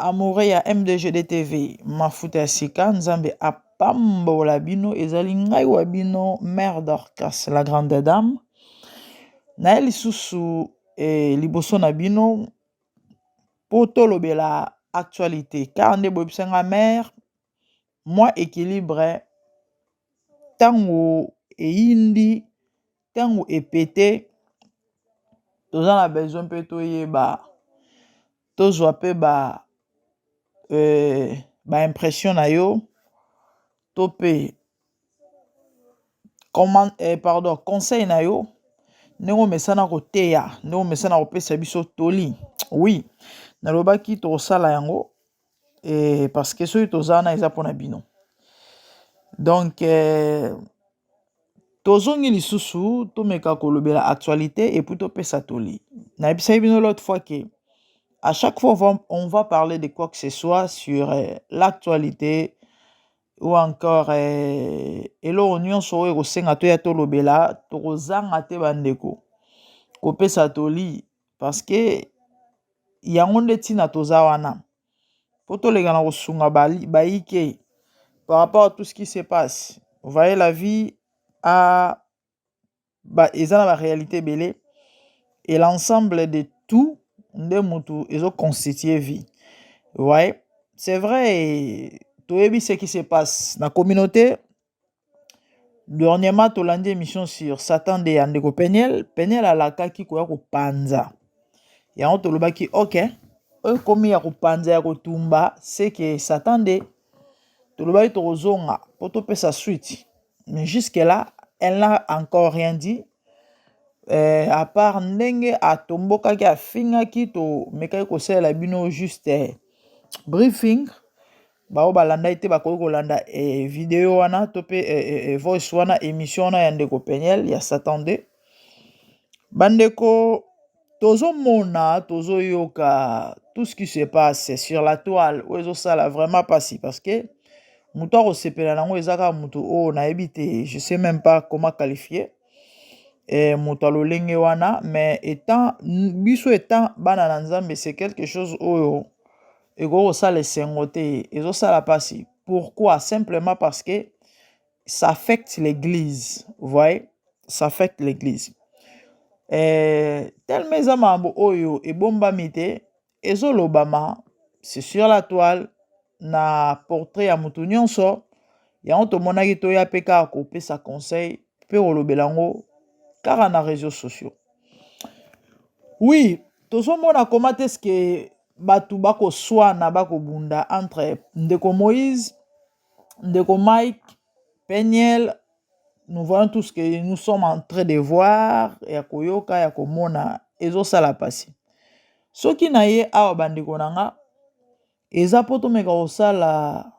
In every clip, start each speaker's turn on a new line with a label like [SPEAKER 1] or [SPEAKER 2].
[SPEAKER 1] amoureux ya mdgd tv mafuta ya sika nzambe apambola bino ezali ngai wa bino mare dorcas la grande dame naye lisusu eh, liboso na bino mpo tolobela actualite car nde boyebisa nga mère mwa equilibre ntango eyindi ntango epete toza na besoin mpe toyeba tozwa mpe ba ba impression na yo to mpe comment eh, pardon conseil na yo ndenge omesana koteya ndenge omesana kopesa biso toli oui nalobaki tokosala yango eh, parce que soki toza wana eza mpona bino donc eh, tozongi lisusu tomeka kolobela actualité epuis topesa toli nayebisaki bino l'autre fois ke à chaque fois on va, on va parler de quoi que ce soit sur eh, l'actualité ou encore eh, eloko nyonso oyo ekosenga toya tolobela tokozanga te bandeko kopesa toli parce que yango nde ntina toza wana mpo toleka na kosunga bayike par rapport à tout ce qui se passe vous voyez la vie a ba eza na ba réalité ebele et l'ensemble de tout nde mutu ezo constituer vie ouais c'est vrai toyebi ce qui se passe na communauté dernièrement tolandi émission sur satan de ya ndeko peniel peniel alakaki koya kopanza yango tolobaki ok oyo ekomi ya kopanza ya kotumba seke satan de tolobaki tokozonga mpo topesa suite mais jusque là elle n'a encore rien dit euh, à part ndenge atombokaki afingaki tomekaki kosalela bino juste eh, briefing baoyo balandaki te bakoki kolanda eh, video wana to mpe eh, eh, eh voice wana émission wana ya ndeko peniel ya satan 2 bandeko tozomona tozoyoka tout ce qui se passe sur la toile oyo ezosala vraiment mpasi parce que moto akosepela nango eza kaka moto oyo nayebi te je sais même pas comment qualifier eh, moto ya lolenge wana mais etant biso etant bana na nzambe c'est quelque chose oyo ekoki kosala esengo te ezosala mpasi pourquoi simplement parce que ça affecte l'église vous voyez ça affecte l'église euh, tellement eza makambo oyo ebombami te ezolobama c'est sur la toile na portrait ya moto nyonso yango tomonaki toya mpe kaka kopesa conseil mpe kolobela yango kaka na réseaux sociaux oui tozomona koma te ske bato bakoswana bakobunda entre ndeko moïse ndeko mike peniel nous voyons tous que nous sommes en train de voir ya koyoka ya komona ezosala mpasi soki na ye awa bandeko na nga eza mpo tomeka kosala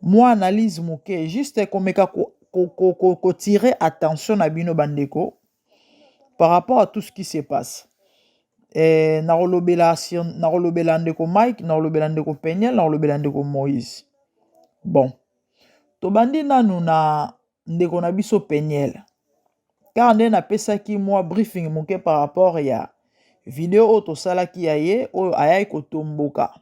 [SPEAKER 1] mwa analyse moke juste komeka kotire ko, ko, ko, attention na bino bandeko par rapport à tout ce qui se passe eh, nakolobela nakolobela ndeko mike nakolobela ndeko peniel nakolobela ndeko moïse bon tobandi nanu na ndeko na biso peniel car nde napesaki mwa briefing moke par rapport ya video oyo tosalaki ya ye oyo ayaki kotomboka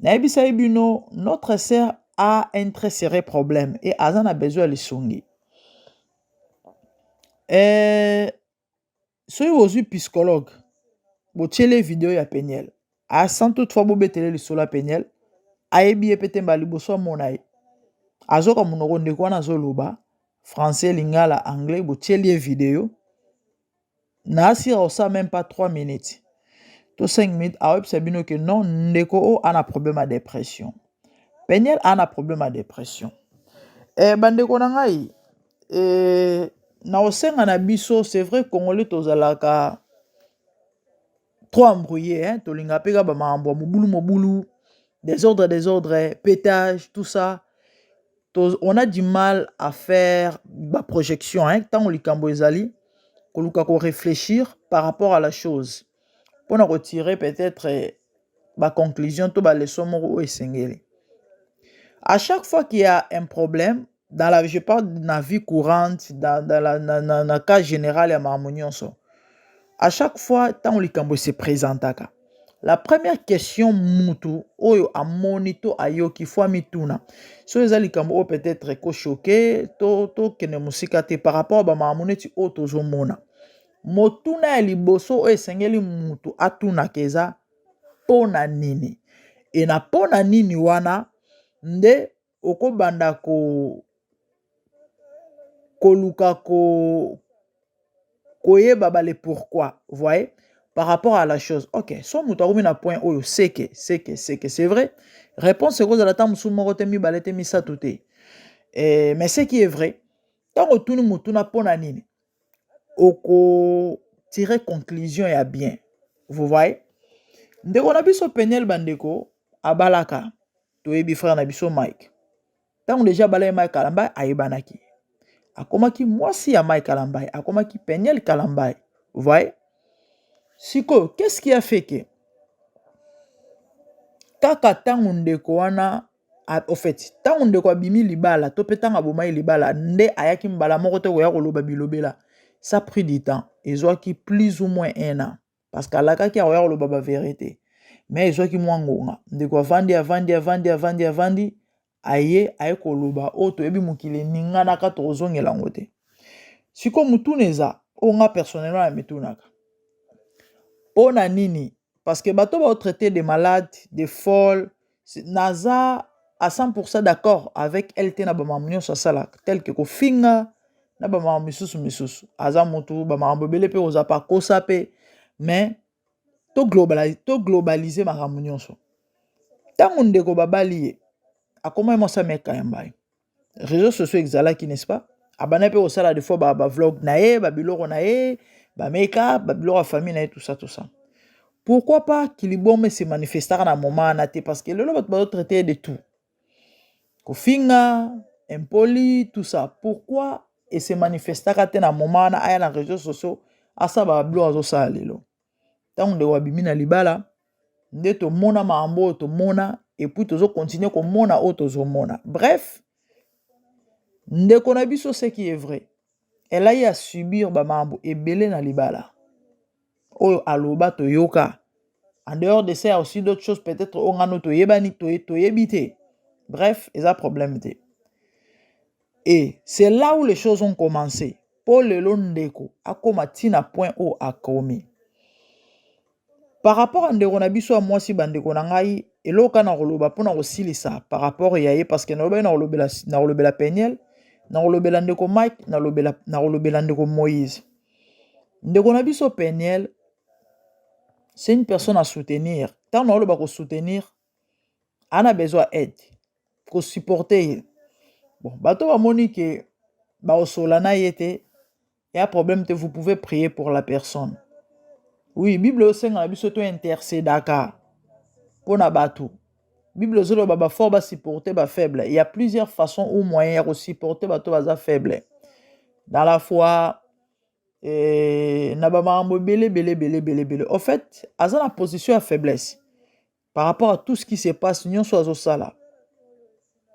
[SPEAKER 1] nayebisaki bino notre sœur a un très serré problème et aza na besoin ya lisungi eh, soki bozwi psychologue botyele video ya peniel asan toutefois bobetele lisolo ya peniel ayebi ye mpe te mbala liboso amona ye azoka monoko ndeko wana azoloba français lingala anglais botyeli ye video na asira osa meme pas 3 minutes to 5 minutes aoyebisa bino ke non ndeko oyo ana problème ya depression peniel ana problème ya depression e, bandeko na ngai e, na osenga na biso c'est vrai congolais tozalaka trop embrouillé hein tolinga pe ka ba makambo mobulu mobulu desordre desordre pétage tout ça on a du mal à faire ba projection hein ntango likambo ezali koluka ko réfléchir par rapport à la chose mpo na kotirer peut-être eh, ba conclusion to ba leçon moko oyo esengeli à chaque fois qu'il y a un problème dans la, je parle de la vie courante, dans, dans, la, dans, dans, dans le cas général ya makambo nyonso. À chaque fois, ntango likambo se présentaka, la première question mutu oyo amoni to ayoki fo amituna soki eza likambo oyo peut-être ekochoke to tokende mosika te par rapport bamakambo neti oyo tozomona motuna ya liboso oyo esengeli mutu atunaka eza mpo na nini e na mpo na nini wana nde okobanda ko koluka ko koyeba bale pourquoi voyez par rapport à la chose ok so moto akomi na point oyo seke seke seke c'est vrai réponse ekozala ntango mosusu moko te mibale te misato te eh, mais ce qui est vrai ntango otuni motuna mpo na nini oko tire conclusion ya bien vous voyez ndeko na biso peniel bandeko abalaka toyebi frère na biso mike ntango deja abalaki mike kalambai ayebanaki akomaki mwasi ya mike kalambai akomaki peniel kalambai vous voyez sikoyo qu'est ce qui a fait que kaka ntango ndeko wana au fait ntango ndeko abimi libala to mpe ntango abomaki libala nde ayaki mbala moko te koya koloba bilobela ça pris du temps ezwaki plus ou moins un an parce que alakaki akoya koloba baverité mais ezwaki mwa ngonga ndeko avandi avandi avandi avandi avandi aye aye koloba oyo toyebi mokili eninganaka tokozongela yango te sikoyo motuna eza oyo nga personnellement na mitunaka mpo na nini parce que bato bao traiter de malade de folle naza à 100% d'accord avec elle te na bamakambo nyonso asalaka tel que kofinga na bamakambo misusu misusu aza motu bamakambo ebele mpe kozala pakosa mpe mais to globalise, to globalise makambo nyonso ntango ndeko babali ye akomaki mwasi ameka ya mbai réseaux sociaux exalaki n'est-ce pas abanda mpe kosala des fois bavlog na ye babiloko na ye bameka babiloko ya famille na ye tout ça tout ça pourquoi pas kilibome se manifestaka na moment wana te parce que lelo bato bazotraite de tout kofinga impoli tout ça pourquoi ese manifestaka te na moment wana aya na réseaux sociaux asala babiloko azosala lelo ntango ndeko abimi na libala nde tomona makambo oyo tomona epuis tozo continue komona oyo tozomona bref ndeko na biso seki ye vrai elai ya subir bamakambo ebele na libala oyo aloba toyoka en dehors de ça ya aussi d'autres choses peut-être oyo ngano toyebani toyebi te bref eza problème te Et c'est là où les choses ont commence po lelo ndeko akoma ti na point oyo akomi. Par rapport ya ndeko na biso ya mwasi bandeko na ngai eloko kaka nakoloba mpo na kosilisa par rapport ya ye parce que nalobaki nakolobela nakolobela peniel nakolobela ndeko mike nalobela nakolobela ndeko moïse ndeko na biso peniel c'est une personne à soutenir ntango naoloba kosoutenir ana besoin ya aide kosupporte ye bon bato bamoni ke baosola na ye te ya problème te vous pouvez prier pour la personne oui bible eosenga na biso to intercedaka mpo na bato bible ezoloba bafort basupporte bafaible ya plusieurs façon ou moyen ya kosupporte bato baza faible dans la foi eh, na bamakambo ebele ebele ebele ebele ebele au fait aza na position ya faiblesse par rapport à tout ce qui se passe nyonso azosala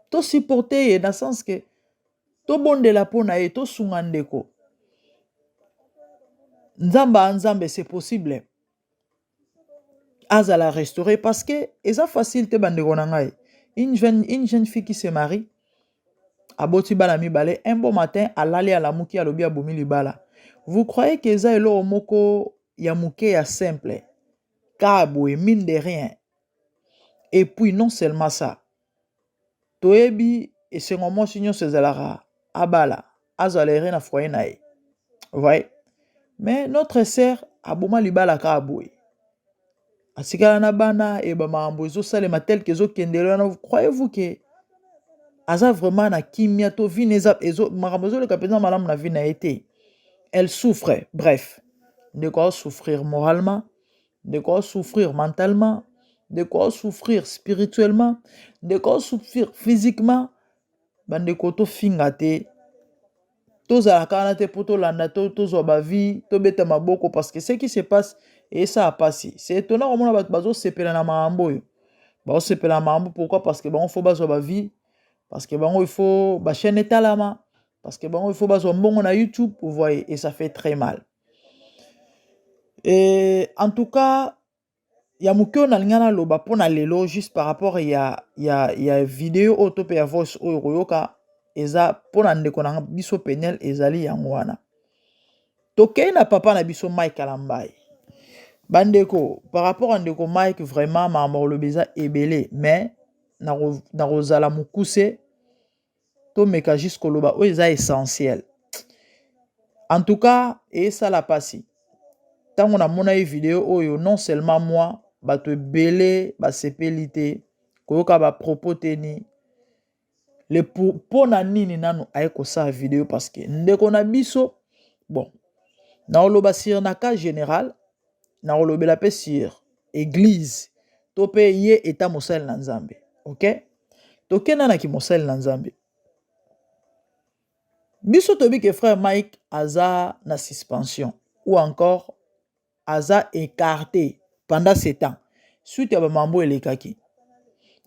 [SPEAKER 1] tosupporte ye na sens ke tobondela mpo na ye tosunga ndeko nzambe a nzambe c'est possible azala restauré parce que eza facile te bandeko na ngai une jeune, une jeune fille qui se marie aboti bana mibale un bon matin alali alamuki alobi abomi libala vous croyez que eza eloko moko ya moke ya simple Kaka boye mine de rien et puis non seulement ça toyebi esengo mwasi nyonso ezalaka abala azala ere na foyer na ye voye mais notre sœur aboma libala kaka boye atikala na bana e bamakambo ezosalema tel que ezokendele wana croyez vous que aza vraiment na kimia to vie makambo ezoleka mpenza malamu na vie na ye te elle souffre bref ndeko ao souffrir moralement ndeko ao souffrir mentalement ndeko ao souffrir spirituellement ndeko ao souffrir physiquement bandeko tofinga te tozala kana te mpo tolanda to tozwa bavie tobeta maboko parce que ce qui se passe esala mpasi se etona komona bato bazosepela na makambo oyo baosepela na makambo pourquoi parce que bango fo bazwa bavie parce que bango ifo bachaine etalama parce que bango il faut bazwa mbongo na youtube vous voyez et ça fait très mal et en tout cas ya moke oyo nalinga naloba mpo na lelo juste par rapport ya, ya, ya video oyo to mpe ya voice oyo koyoka eza mpo na ndeko na biso penel ezali yango wana tokei na papa na biso mike alambai bandeko par rapport ya ndeko mike vraiment makambo koloba eza ebele mais nakozala mokuse tomeka juste koloba oyo eza essentiel en tout cas esala mpasi ntango namonaki video oyo non seulement moi bato ebele basepeli te koyoka bapropos teni le mpo na nini nanu aye kosala video parce que ndeko na biso bon naoloba sur na cas général nakolobela mpe sur eglise to mpe ye eta mosali na nzambe ok tokenda na kimosali na nzambe biso toyebi ke frère mike aza na suspension ou encore aza écarté pendant ce temps suite ya bamambo elekaki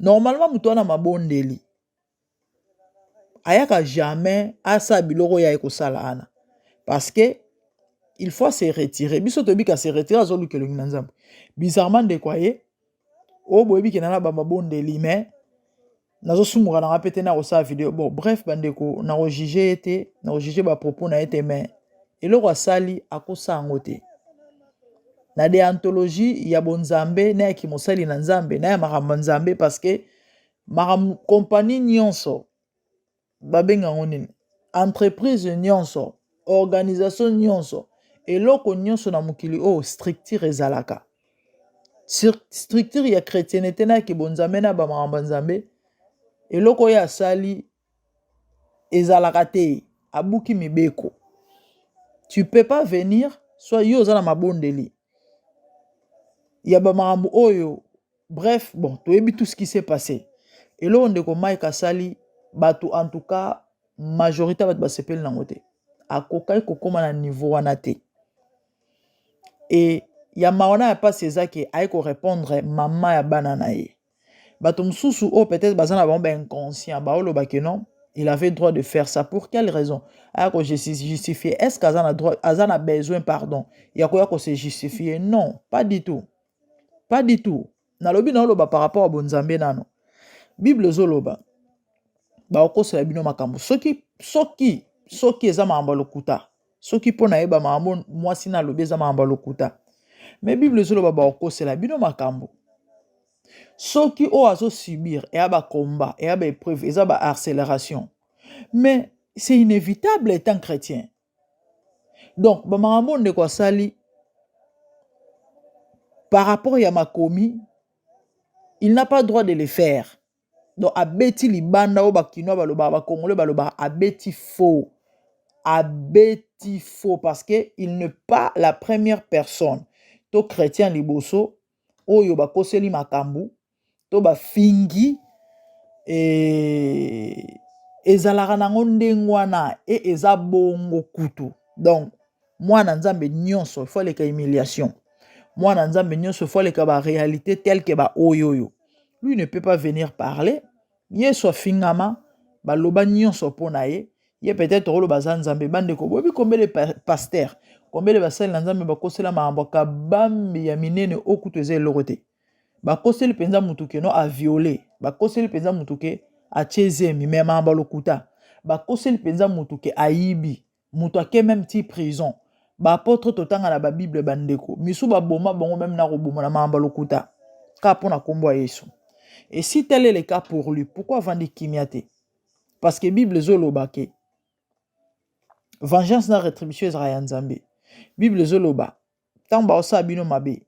[SPEAKER 1] normalement moto wana mabondeli ayaka jamais asala biloko ya ekosala ana parce que il faut se retirer biso toyebi ka se retirer azoluka elongi na nzambe bizarrement ndeko aye oyo boyebi kena na bamabondeli mais nazosumuka nanga mpe te na kosala video bon bref bandeko na kojuge ye te na kojuge bapropos na ye te mais eloko asali akosa yango te na deantologie ya bonzambe na ya kimosali na nzambe na ya makambo ya nzambe parce que makambo kompani nyonso babenga yango nini entreprise nyonso organisation nyonso eloko nyonso na mokili oyo structure ezalaka structure ya chrétienete na kibonzambe na bamakambo ya nzambe eloko oyo asali ezalaka te abuki mibeko tu peux pas venir soit yo oza na mabondeli ya bamakambo oyo Bref, bon, toyebi tout ce qui s'est passé. Eloko ndeko Mike asali bato en tout cas majorité bato basepeli nango te. Akokaki kokoma na niveau wana te. Et ya mawa na ya pasi eza ke aye korepondre mama ya bana na ye. Bato mosusu oyo oh, peut-être baza na bango bainconscient baoloba ke non il avait droit de faire ça pour quelle raison aya ko justifier est-ce que aza na droit aza na besoin pardon ya koya ko se justifier non pas du tout pas du tout nalobi naoloba par rapport ya bonzambe nano bible ezoloba bakokosela bino makambo soki soki soki eza makambo ya lokuta soki mpo nayeba makambo mwasi na alobi eza makambo ya lokuta me bible ezoloba bakokosela bino makambo soki oyo azosubir eya bacombat eya baepreuve eza baacceleration mais c'est inévitable etant chrétien donc bamakambo oyo ndeko asali par rapport ya makomi il n'a pas droit de le faire donc abeti libanda oyo bakinois balobaka bakongole balobaka abeti faux abeti faux parce que il ne pas la première personne to chrétien liboso oyo bakoseli makambo to bafingi e, ezalaka nango ndenge wana e eza bongo kutu donc mwana nzambe nyonso ifo aleka humiliation mwana nzambe nyonso ifo aleka baréalité telke baoyo oyo lui ne peut pas venir parler yesu afingama baloba nyonso mpo na ye ye peut-être oloba aza nzambe bandeko boyebi kombele paster kombele basali na nzambe bakosela makambo kabambi ya minene okutu eza eloko te bakoseli mpenza motu ke no aviole bakoseli mpenza motu ke atie zemi me mayamba lokuta bakoseli mpenza motu ke ayibi moto ake meme ti prison baapotre totanga na babible bandeko misu baboma bango meme na koboma na mayamba lokuta ka mpo na nkombo ya yesu esi tele le cas pour lui pourkui avandi kimia te parce que bible ezoloba ke vengeance na retribution ezalaka ya nzambe bible ezoloba ntango baosala bino mabe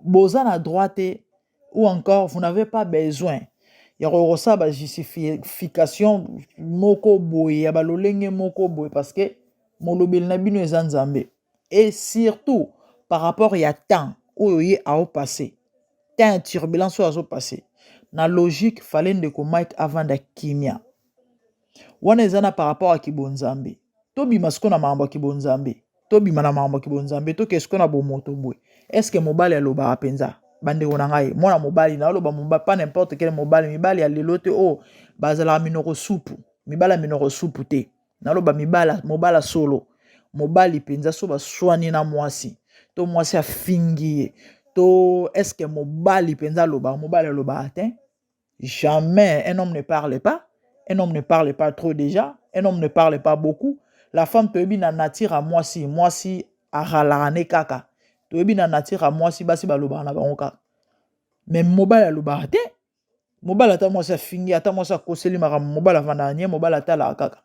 [SPEAKER 1] boza na droit te ou encore vous n'avez pas besoin ya kokosala ba justification moko boye ya balolenge moko boye parce que molobeli na bino eza nzambe et surtout par rapport ya temps oyo ye ao passe temps ya turbulence oyo azo passe na logique fale ndeko mike avanda kimia wana eza na par rapport ya kibonzambe tobima siko na makambo ya kibonzambe tobima na makambo ya kibonzambe tokee siko na bomoto boye eske mobali alobaka mpenza bandeko na ngai mwana mobali naoloba mobali pas n'importe quel mobali mibali ya lelo te oyo oh, bazalaka minoko supu mibali ya minoko supu te naloba mibala mobala solo mobali mpenza so baswani na mwasi to mwasi afingi ye to eske mobali mpenza alobaka mobali alobaka te Jamais un homme ne parle pas. Un homme ne parle pas trop déjà. Un homme ne parle pas beaucoup. La femme toyebi na nature à moi si moi si à ralarane kaka. Toyebi na nature à moi si basi balobaka na bango kaka. Mais mobile alobaka te. Mobile ata moi sa fingi ata moi sa koseli makambo mobile avanda anye mobile ata la kaka.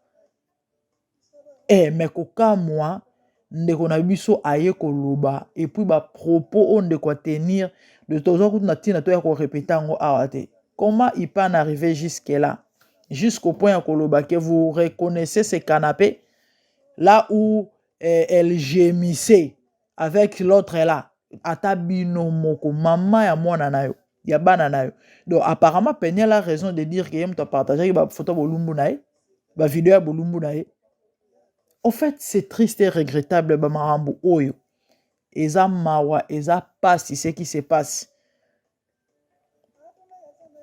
[SPEAKER 1] Eh mais kokamwa ndeko na biso aye koloba et puis ba propos oyo ndeko a tenir de toza kutu na ntina toya ko repeter yango awa te comment il peut en arriver jusque là jusqu'au point ya koloba que vous reconnaissez ce canapé là où eh, elle gémissait avec l'autre là ata bino moko mama ya mwana na yo ya bana na yo donc apparemment peniel a raison de dire que ye moto apartageaki bafoto ya bolumbu na ye bavideo ya bolumbu na ye au fait c'est triste et regrettable bamakambo oyo eza mawa eza pasi ce qui se passe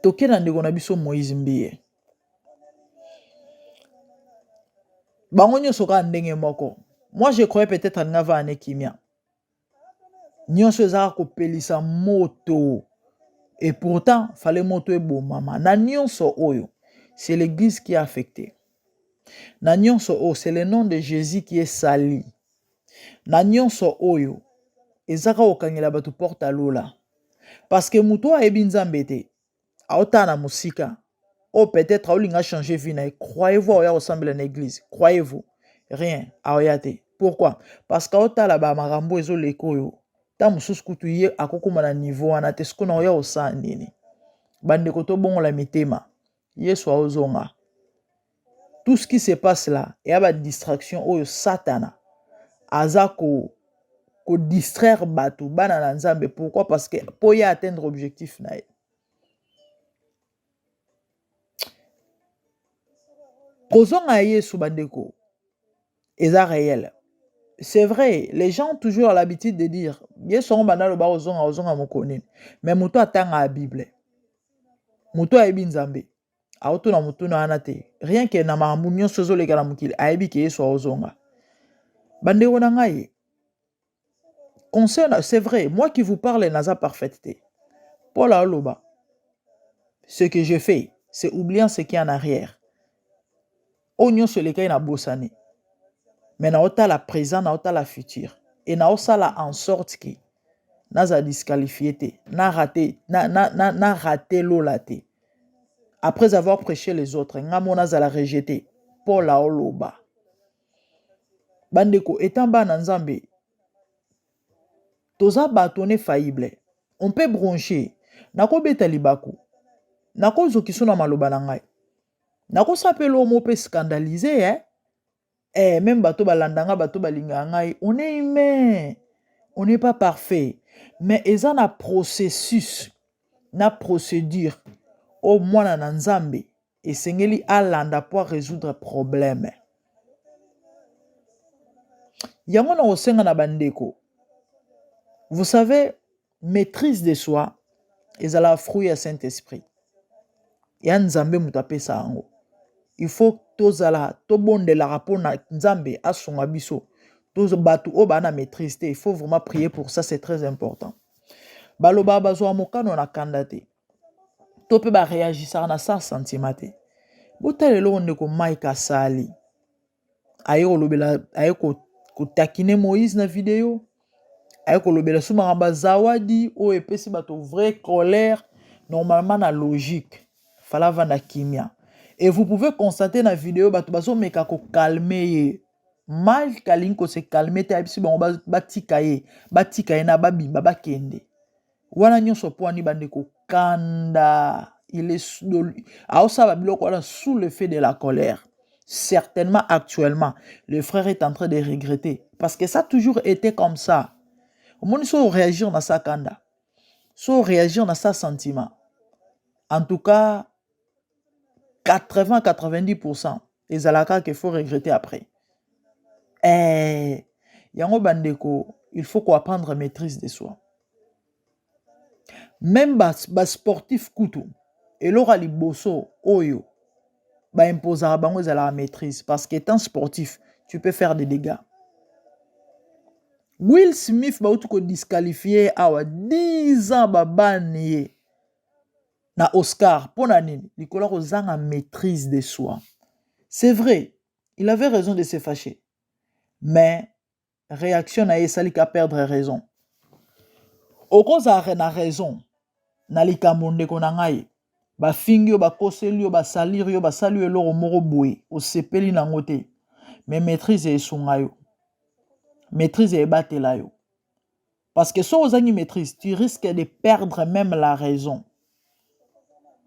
[SPEAKER 1] toke na ndeko na biso moise mbiye bango nyonso kaka ndenge moko moi je croyais peut-être alinga vaa ne kimia nyonso ezaka kopelisa moto et pourtant fale moto ebomama na nyonso oyo c'est l'église qui est affectée na nyonso oyo c'est le nom de jésus qui est sali na nyonso oyo eza kaka kokangela bato porte ya lola parceke moto oyo ayebi nzambe te aotala na mosika oyo oh, peut-être aolinga changer vie na ye croyez-vous aoya kosambela na église croyez-vous rien aoya te pourquoi parce que aotala bamakambo ezoleka oyo ntango mosusu kutu ye akokoma na niveau wana te sikoyo naoya kosala nini bandeko tobongola mitema yesu aozonga tout ce qui se passe là eya badistraction oyo satana aza ko kodistraire bato bana na nzambe pourquoi parce que mpo ye atteindre objectif na ye kozonga ya yesu bandeko eza réel c'est vrai les gens toujours à l'habitude de dire yesu yango banda aloba kozonga kozonga mokolo nini mais moto atangaka bible moto ayebi nzambe aotuna motuna wana te rien ke na makambo nyonso ezoleka na mokili ayebi ke yesu akozonga bandeko na ngai conseil na- c'est vrai moi qui vous parle naza parfaite te paul aloba ce que je fais c'est oubliant ce qui est en arrière oyo nyonso elekaki na bosani mais naotala présent naotala futur et naosala en sorte que naza disqualifie te na rate na, na, na, na rate lola te après avoir prêché les autres nga mo nazala rejeté paul aoloba Bandeko, etant bana Nzambe, toza bato, on est faillible. On peut broncher. Nakobeta libaku. Nakozokiso na maloba na ngai. Nakosapela omo mpe scandaliser, eh? Eh, même bato balanda ngai, bato balinga ngai. On est humain. On n'est pas parfait. Mais eza na processus, na procédure. O mwana na Nzambe, esengeli alanda mpo a resoudre probleme yango na kosenga na bandeko vous savez maîtrise de soi ezalaka fruit ya saint esprit ya nzambe moto apesa yango il faut tozala tobondelaka mpo na nzambe asunga biso bato oyo baa na maîtrise te il faut vraiment prier pour ça c'est très important balobaka bazwaka mokano na kanda te to mpe ba reagisaka na sans sentiment te botala eloko ndeko mike asali aye kolobela aye kotakine moïse na video aye kolobela so makambo ya zawadi oyo epesi bato vrai colère normalement na logique fala avanda kimia et vous pouvez constater na video bato bazomeka kokalme ye mike alingi kose kalme te ayebisi bango batika ye batika ye na babimba bakende wana nyonso mpo ani bandeko kanda aosala biloko wana sous le fait de la colère certainement actuellement le frère est en train de regretter parce que ça toujours été comme ça omoni so réagir na sa kanda so réagir na sa sentiment en tout cas 80 90% ezalaka que faut regretter après eh yango bandeko il faut ko apprendre maîtrise de soi même ba, ba sportif kutu eloko ya liboso oyo baimposaka bango ezalaka maîtrise parce que étant sportif tu peux faire des dégâts will smith bauti kodisqualifie ye awa 10 ans babani ye na Oscar mpo na nini likolo ya kozanga maîtrise de soi c'est vrai il avait raison de se fâcher mais réaction na ye esali ka perdre raison okozala na raison na likambo ndeko na ngai bafingi yo bakoseli yo basaliri yo basali yo eloko moko boye osepeli nango te mais maîtrise esunga yo maîtrise ebatela yo Parce que soki ozangi maîtrise, tu risques de perdre même la raison.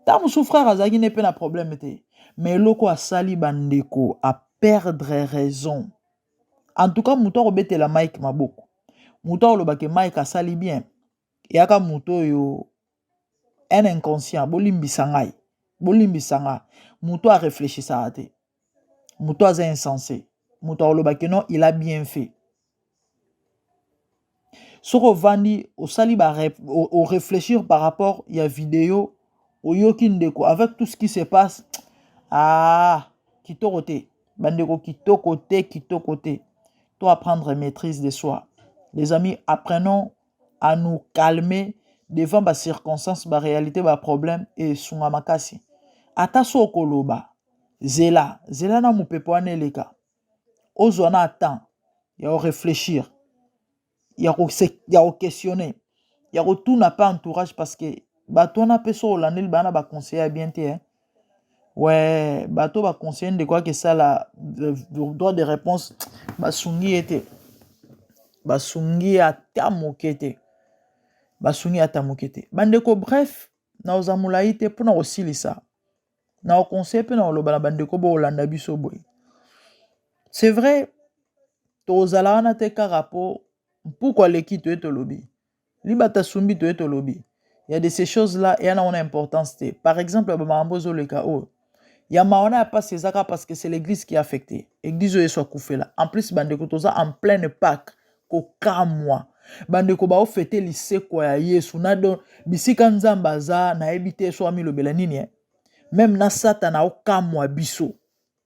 [SPEAKER 1] Ntango mosusu frère azalaki ne mpe na problème te, mais eloko asali bandeko a perdre raison. En tout cas, moto akobetela Mike maboko, moto akolobake Mike asali bien, eyaka moto oyo un inconscient bolimbisa ngai bolimbisa nga moto a réfléchissaka te moto aza insense moto akoloba ke non il a bien fait soki ovandi osali ba o réfléchir par rapport ya video oyoki ndeko avec tout ce qui se passe ah kitoko te bandeko kitoko te kitoko te to apprendre maîtrise de soi les amis apprenons à nous calmer devant ba circonstances ba réalité ba problème esunga makasi ata so okoloba zela zela na mopepe wana eleka ozwa na temps ya oreflechir ya koquestionne ya kotuna mpe entourage parce que bato wana mpe so olandeli bana baconseille ya bien te eh? Ouais, bato ba conseiller ndeko ake sala euh, droit de réponse basungi ye te basungi ye ata moke te basungi ye ata moke te bandeko bref naoza molai te mpo na kosilisa na oconseille mpe na koloba na bandeko bokolanda biso boye c'est vrai tozala wana te kaka mpo mpuku aleki toye tolobi libata sumbi toye tolobi ya de ces choses là eyana wana importance te par exemple ba makambo ezoleka oyo ya mawana ya pasi ezaka parce que c'est l'église qui affecté église oyo yesu akufela en plus bandeko toza en pleine pâque kokamwa bandeko baofete lisekwa ya yesu na do bisika nzambe aza nayebi te so amilobela nini eh? meme na satana okamwa biso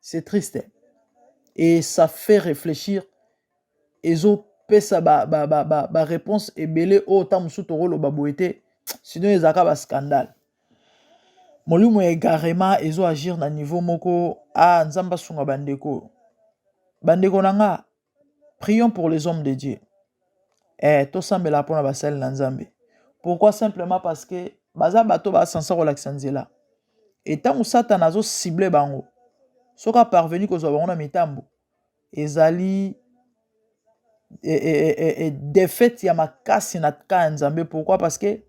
[SPEAKER 1] c'est triste hein? et ça fait réfléchir ezopesa ba, ba, ba, ba, ba réponse ebele oyo ntango mosusu tokoloba boye te sinon ezalaka ba scandale molimo ya egarema ezo agir na niveau moko ah nzambe asunga bandeko bandeko na nga prions pour les hommes de dieu eh, tosambela mpo na basali na nzambe pourquoi simplement parce que baza bato basansa kolakisa nzela e ntango satana azosible bango soki aparveni kozwa bango na mitambo ezali e, e, e, defete ya makasi na ka ya nzambe pourquoi parce que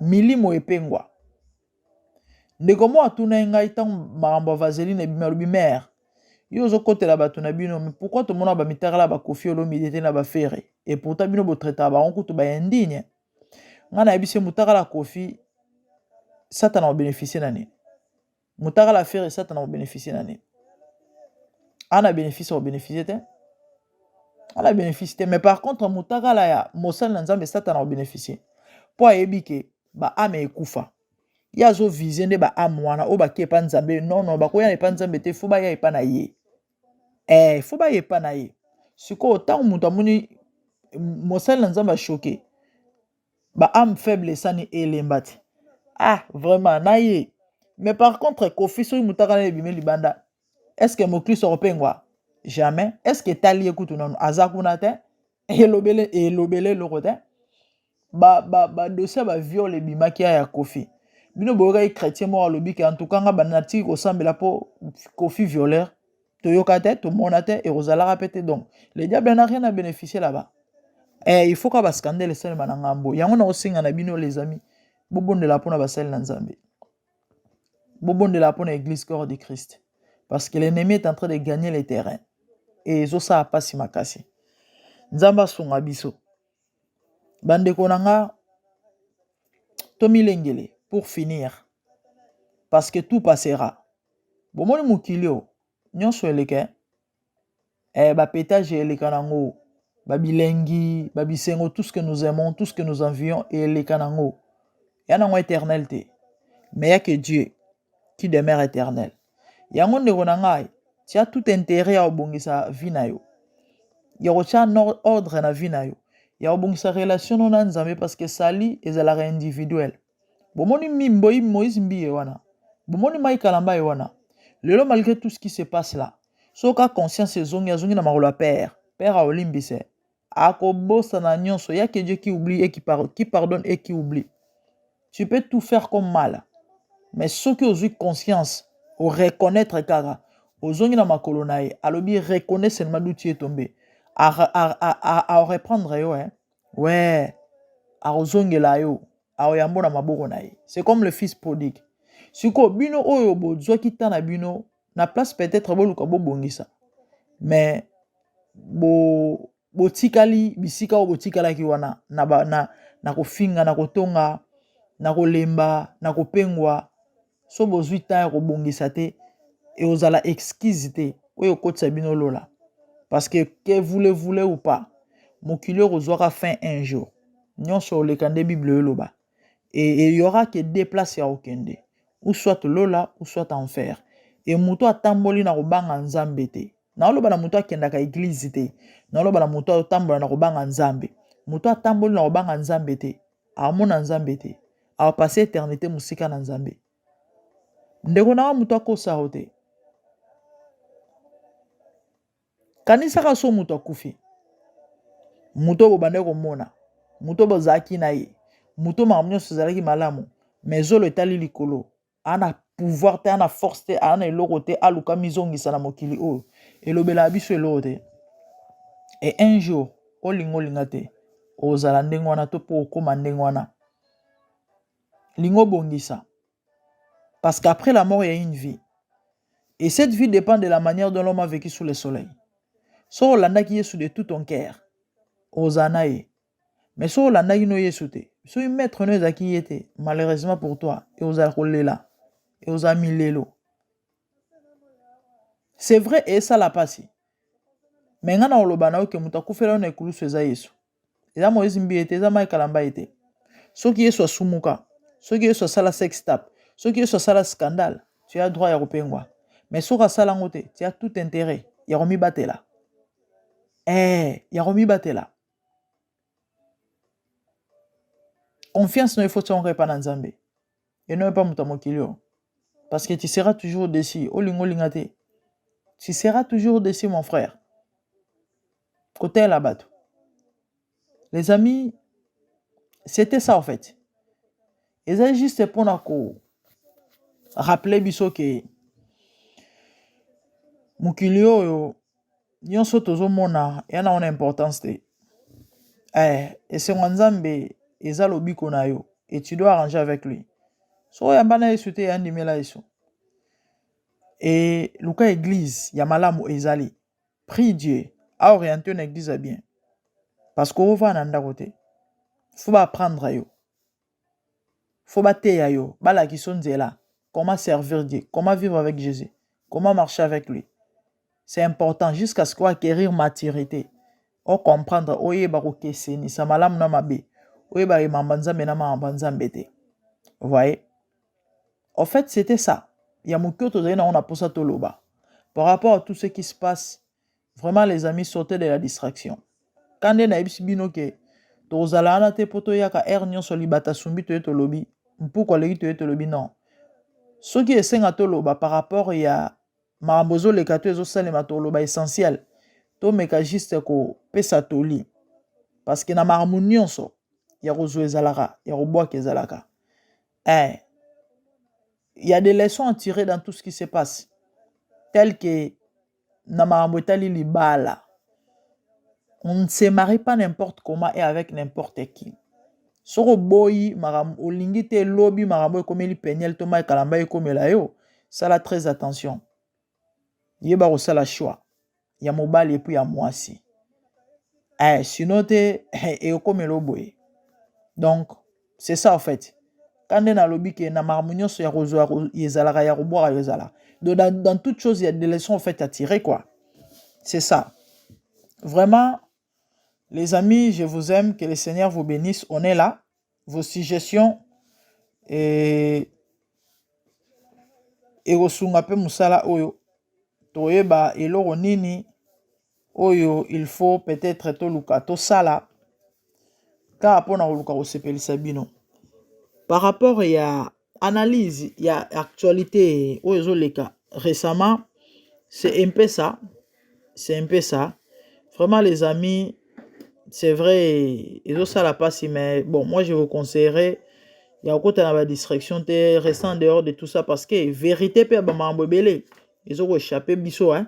[SPEAKER 1] milimo epengwa Ndeko moko atunaki ngai ntango makambo ya vaseline ebimi, alobi mère, yo ozokotela bato na bino mais pourquoi tomonaka bamitakala ba kofi olomide te na bafere et pourtant bino botretaka bango kutu ba indigne ngai nayebisi ye mutakala kofi satana obeneficie na nini mutakala fere satana obeneficie na nini ana benefice obeneficie te ana benefice te mais par contre mutakala ya mosali na nzambe satana obeneficie mpo ayebi ke ba ame ekufa ye azo vise nde ba ame wana oyo bake epa nzambe non non bakoya na epa nzambe te fo baya epa na ye eh, fo baya epa na ye sikoyo ntango moto amoni mosali na nzambe ashoke ba ame faible esani elemba te ah vraiment na ye mais par contre kofi soki motaka na ebimi libanda est ce que moklisto akopengwa jamais est ce que etali ye kutu nanu aza kuna te elobele elobele eloko te ba ba ba dossier ba viol ebimaki ya kofi bino boyokaki chrétien moko alobi ke antuka nga banda natiki kosambela mpo kofi violeur toyoka te tomona te ekozalaka mpe te donc le diable na rien na bénéficier là-bas eh, il faut ka bascandele esalema na ngambo yango nakosenga na bino les amis bobondela mpo na basali na nzambe bobondela mpo na eglise corps de christ parce que l'ennemi est en train de gagner le terrain et ezosala mpasi makasi nzambe asunga biso bandeko na nga tomilengele pour finir parce que tout passera bomoni mokili oyo nyonso eleke eh, ba petage eleka nango ba bilengi ba bisengo tout ce que nous aimons tout ce que nous envions eleka nango ya nango éternel te mais ya que Dieu qui demeure éternel yango ndeko na ngai tia tout intérêt ya kobongisa vie na yo ya kotya ordre na vie na yo ya kobongisa relation no na nzambe parce que sali ezalaka individuel bomoni mimboyi moise mbiye wana bomoni mai kalamba ye wana lelo malgré tout ce qui se passe là soka conscience ezongi azongi na makolo ya père père aolimbise akobosana nyonso ya que dieu qui oublie et qui, par, qui pardonne et qui oublie tu peux tout faire comme mal mais soki ozwi conscience oreconnaitre kaka ozongi na makolo na ye alobi reconnaisse seulement duti etombe a, a, a, a, a reprendre yo eh? Ouais, akozongela yo, akoyambo na maboko na ye. C'est comme le fils prodigue. Siko bino oyo bozwaki temps na bino na place peut-être boluka bobongisa. Mais bo botikali bisika oyo botikalaki wana na ba, na na kofinga, na kotonga, na kolemba, na kopengwa, so bozwi temps ya kobongisa te ekozala excuse te oyo ekotisa bino lola parce que que voulez voulez ou pas mokili oyo kozwaka fin un jour nyonso oleka nde bible oyo eloba et il y aura que deux places ya okende ou soit lola ou soit enfer et moto atamboli na kobanga nzambe te naoloba na moto akendaka eglize te naoloba na moto atambola na kobanga nzambe moto atamboli na kobanga nzambe te Amona Nzambe te. A passer eternite musika na Nzambe. Ndeko na nga mutu akosa yo te. Kanisaka so mutu akufi. Mutu bobandaki komona. Mutu bozalaki na ye. Mutu makambo nyonso ezalaki malamu. Mais zolo etali likolo. aa na pouvoir te aa na force te aa na eloko te aluka mizongisa na mokili oyo elobelaka biso eloko te e un jour olinga olinga te ozala ndenge wana to mpo okoma ndenge wana linga obongisa parce qu'après la mort il y a une vie et cette vie dépend de la manière dont l'homme a vécu sous le soleil soki olandaki yesu de tout ton cœur ozala na ye mais soki olandaki no yesu te soki maître no ezalaki ye te malheureusement pour toi e ozala kolela e ozala milelo c'est vrai esala mpasi me ngai na oloba na yo ke moto akufela yo na ekulusu eza yesu eza moise mbiye te eza mai kalamba ye te soki yesu asumuka soki yesu asala sex tap soki yesu asala scandale tu as droit ya kopengwa mais soki asala yango te tu as tout intérêt ya komibatela ee eh, ya komibatela confiance no ifo tiongo epa na nzambe eno epa moto ya mokili oyo parce que tu seras toujours déçu olinga olinga te tu seras toujours déçu mon frère kotela bato les amis c'était ça en fait eza juste mpona ko rappeler biso ke mokili oyo nionso tozomona yana wana importance te eh, esengo ya nzambe eza lobiko na yo et tu dois arranger avec lui so oyamba na yesu te yandimela yesu e luka eglise ya malamu ezali prie dieu aoriente yo na eglise ya bien parce que ova na ndako te fo baapprendre yo faut bateya yo balakisa yo nzela comment servir Dieu comment vivre avec Jésus comment marcher avec lui c'est important jusqu'à ce qu'on acquérir maturité o comprendre oyeba kokesenisa malamu na mabe oyeba emamba nzambe na mamamba nzambe te voyez en fait c'était ça ya moke oyo tozali nango na mposa toloba par rapport à tout ce qui se passe Vraiment les amis sortez de la distraction. Kande na yebisi bino ke tozala wana te po toyaka heure nyonso libata sumbi toye tolobi mpuku aleki toye tolobi non. Soki esenga toloba par rapport ya makambo ezoleka to ezosalema toloba essentiel. Tomeka juste kopesa toli parce que na makambo nyonso ya kozwa ezalaka ya kobwaka ezalaka. Eh, il y a des leçons à tirer dans tout ce qui se passe tel que na makambo etali libala on ne se marie pas n'importe comment et avec n'importe qui soki oboyi makambo olingi te lobi makambo ekomeli peniel to mai kalamba ekomela yo sala très attention yeba kosala choix ya mobali epuis ya mwasi eh, sino te eh, ekomela oboye donc c'est ça en fait ka nde nalobi ke na makambo nyonso ya kozwa ezalaka ya kobwaka yo ezalaka donc dans, dans toute chose ya des leçons en fait à tirer quoi c'est ça vraiment les amis je vous aime que le seigneur vous bénisse on est là vos suggestions et ekosunga mpe mosala oyo toyeba eloko nini oyo il faut peut-être toluka tosala kaka mpo na koluka kosepelisa bino par rapport ya analyse ya actualité oyo ezoleka récemment c'est un peu ça c'est un peu ça vraiment les amis c'est vrai ezosala mpasi mais bon moi je vous conseillerais ya kokota na badistraction te restant dehors de tout ça parce que vérité mpe ya bamakambo ebele ezokochape biso hein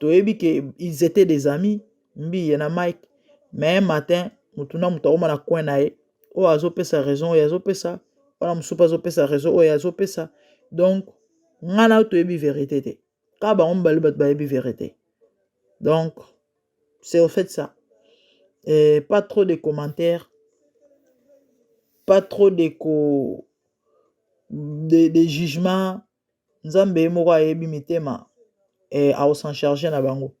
[SPEAKER 1] toyebi ke ils étaient des amis mbiye na mike mais un matin motu na moto akoma na coin na ye oyo azopesa raison oyo azopesa wana mosusu mpe azopesa raison oyo azopesa donc ngai na toyebi verité te kaka bango mibale bato bayebi verité donc c'est au fait ça Et pas trop de commentaires pas trop de ko de, de jugement nzambe ye moko ayebi mitema et au s'en charger na bango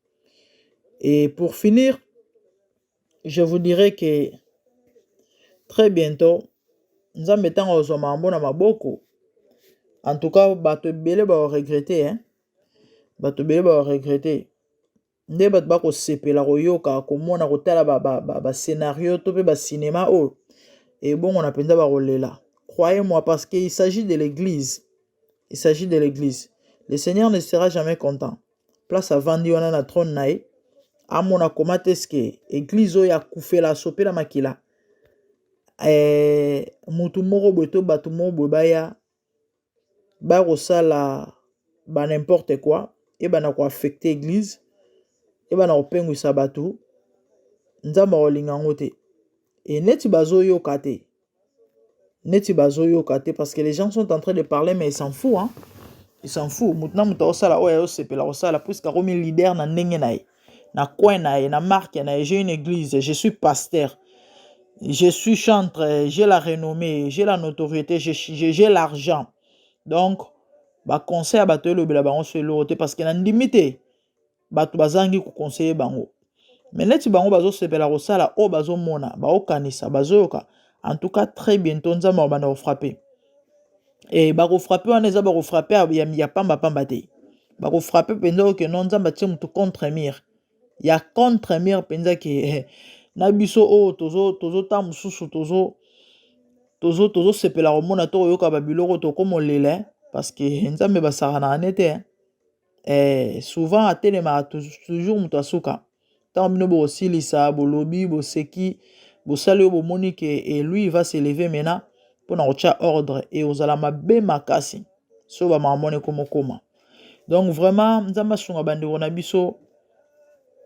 [SPEAKER 1] et pour finir je vous dirai que très bientôt nzambe ntango ozwa mambo na maboko en tout cas bato ebele baoregrete hein? bato ebele baoregrete nde bato bakosepela koyoka komona kotala bascenario ba, ba, ba to mpe basinema oyo ebongona mpenza bakolela croyez moi parce que il s'agit de l'église il s'agit de l'église le seigneur ne sera jamais content place avandi wana na trône na ye amona koma te ske eglize oyo akufela asopela makila eh, motu moko boye to bato moko boye baya bakosala ba n'importe quoi ebanda ko affecte eglise ebanda kopengwisa bato nzambe akolinga yango te e neti bazoyoka te neti bazoyoka te parce que les gens sont en train de parler mais ils s'en fout hein ils s'en fout moto na moto akosala oyo ayosepela kosala puiske akomi leader na ndenge na ye na coin na ye na marque na ye j'ai une église je suis pasteur je suis chantre j'ai la renommée j'ai la notoriété j'ai l'argent donc baconseil ya bato elobela bango so eloko te parce que nandimi te bato bazangi koconseille bango me neti bango bazosepela kosala oyo bazomona baokanisa bazoyoka en tout cas très bientôt nzambe akobanda kofrape eh, bakofrape wana eza bakofrape ya, ya, ya pamba pamba te bakofrape mpenza oyo keno nzambe atie motu contre mire ya contre mire mpenza ke eh, na biso oyo oh, tozo tozotanga mosusu tozo tozo tozosepela komona to koyoka babiloko tokoma olela eh, parce que eh, nzambe basakanaka ne te eh, souvent atelemaka toujours moto asuka Ntango bino bokosilisa, bolobi, boseki, bosali oyo bomoni ke et lui il va se lever maintenant mpo na kotya ordre et ozala mabe makasi so bamakambo ekomokoma donc vraiment nzambe asunga bandeko na biso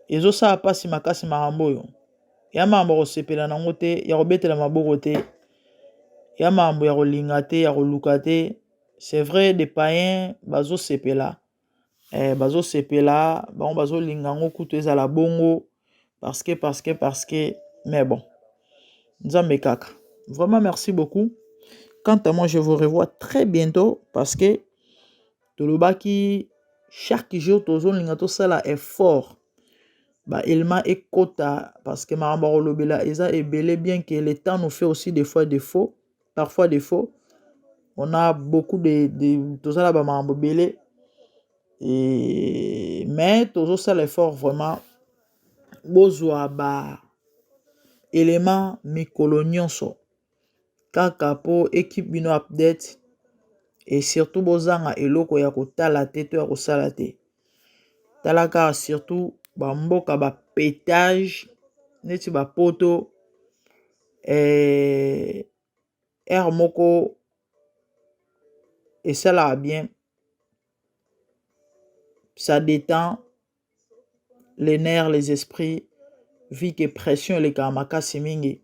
[SPEAKER 1] ezosala mpasi makasi makambo oyo ya makambo ya kosepela nango te ya kobetela maboko te ya makambo ya kolinga te ya koluka te c'est vrai des païens bazosepela bazosepela bango bazolinga yango kutu ezala bongo parceke parceke parceke me bon nzambe kaka vrema merci beaucoup kanta moi je vous revoit très bientot parceke tolobaki chaque jour tozolinga tosala efort baelema ekota parceke makambo ya kolobela eza ebele bien ke le temps noufait aussi de fois de faux parfois de faux on a beaucoup de, de toza na bamakambo ebele e, mais tozosala effort vraiment bozwa ba élément mikolo nyonso kaka mpo ekipe bino update e surtout bozanga eloko ya kotala te to ya kosala te tala kaka surtout ba mboka ba petage neti ba poto heure moko esalaka bien ça detend les nerfs les esprits vu que pression elekaka makasi mingi.